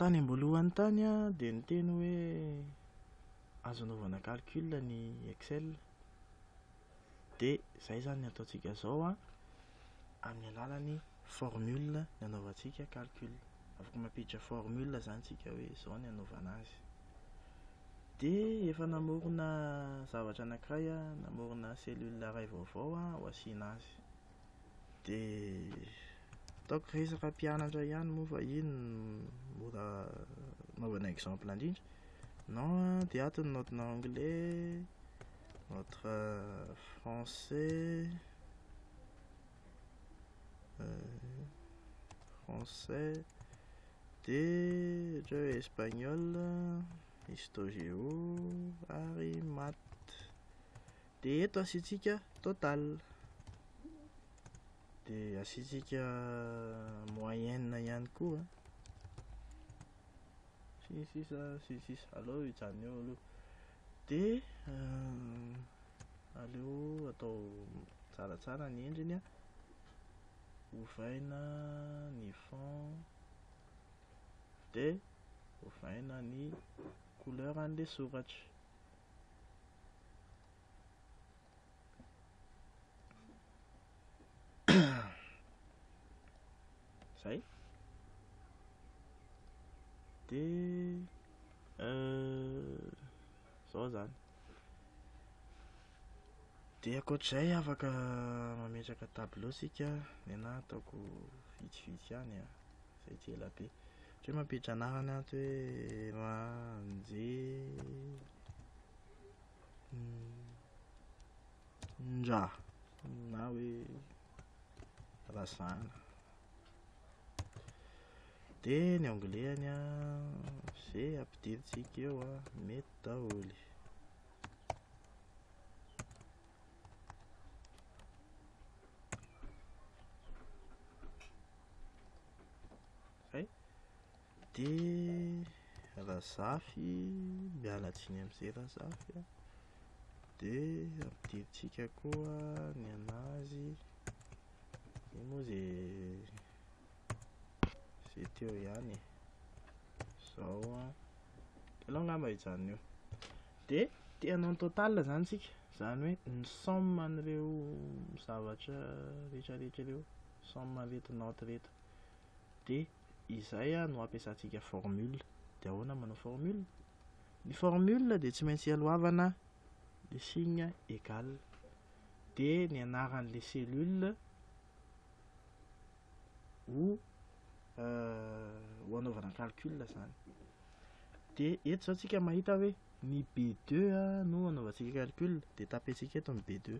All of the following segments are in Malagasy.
Tany am-boalohany tany aho dia niteny hoe azo anaovana calcul ny Excel. Dia izay izany ny ataontsika izao an, amin'ny alalan'ny formule no anaovantsika calcul. Afaka mampiditra formule izany isika hoe izao no anaovana azy. Dia efa namorona zavatra anankiray aho, namorona cellule iray vaovao aho ho asiana azy. Dia ataoko resaka mpianatra ihany moa fa iny no mora anaovana exemple indrindra. Non an, dia ato ny note-na anglais, notre français, français, dia ohatrany hoe espagnol, histo-géo ary maths. dia eto asiantsika total dia asiantsika moyenne ihany koa sy ny sisa sy ny sisa aleo hijanona eo aloha dia euh, aleo atao tsaratsara ny endriny a ovaina ny fond dia ovaina ny couleur an'ilay soratra zay de euh, zao zany de akoatr'izay afaka mametraka tableau sika nena ataoko vitsivitsy any a zay tsy ela be Tsy hoe mampiditra anarany aho tsy hoe ra nje nra na hoe razana. Dia ny anglais-ny an, izay ampidirintsika eo an, mety daholo. Hay, dia Razafy, miala tsiny amin'izay Razafy a, dia ampidirintsika koa ny an'azy, io moa izay izay teo ihany e, izao a, ianao angamba hijanona eo, dia te hanao ny total izany isika, izany hoe ny somme an'ireo zavatra rehetrarehetra ireo, somme an'ireto note ireto. dia izay no ampiasantsika formule. Dia ahoana ny manao formule? Ny formule dia tsy maintsy ialohavana le signe égal. Dia ny anaran'le cellule ho euh, ho anaovana calcul zany. Dia eto zao tsika mahita hoe ny B2 no anaovantsika calcul, dia tapentsika eto ny B2.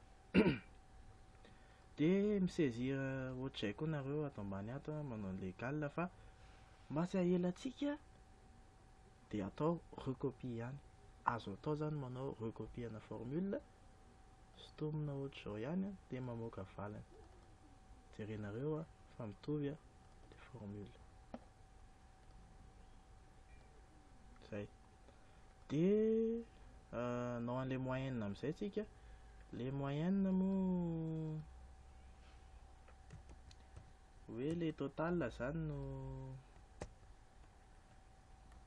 Dia mi-saisir ohatr'izay koa nareo ato ambany ato an, manao ny legal fa mba tsy ahelantsika dia atao recopie ihany. Azo atao izany manao recopie ana formule, sintomina ohatr'izao ihany an, dia mamoaka valiny. Jerenareo an, fa mitovy an, ilay formule. Izay. Dia hanao an'ilay moyenne amin'izay isika. Ilay moyenne moa hoe ilay total izany no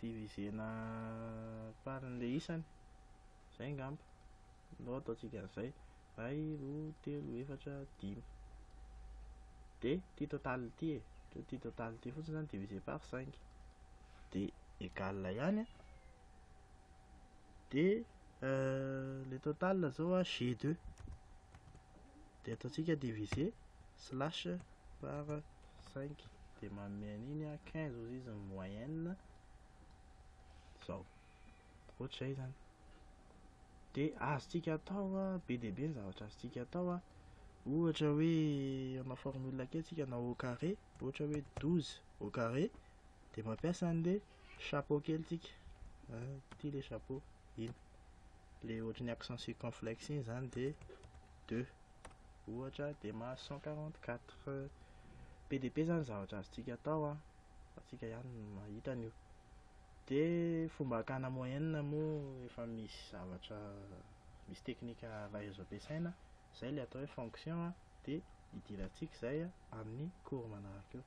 divisena par an'ilay isany. Zay ngamba no ataontsika an'izay, iray, roa, telo, efatra, dimy. Dia ity total ity e, ohatra ity total ity fotsiny zany divisé par 5 dia égal ihany a. Dia euh, le total zao a G2 dia ataontsika divisé slash par 5 dia manome an'iny a 15 ozy izy ny moyenne zao. ohatr'izay zany de azontsika atao a be dia be ny zavatra azontsika atao a ohatra hoe manao formule kely tsika na au carré ohatra hoe douze au carré de mampiasa an'le chapeau kely tsika ity le chapeau iny le ohatry ny accent circonflexe iny zany de deux ohatra de mahazo cent quarante quatre be dia be zany zavatra azontsika atao a fa tsika ihany no mahita an'io Dia fomba hakana moyenne moa efa misy zavatra misy teknika avy azo ampiasaina, izay ilay atao hoe fonction dia hidirantsika izay amin'ny cours manaraka eo.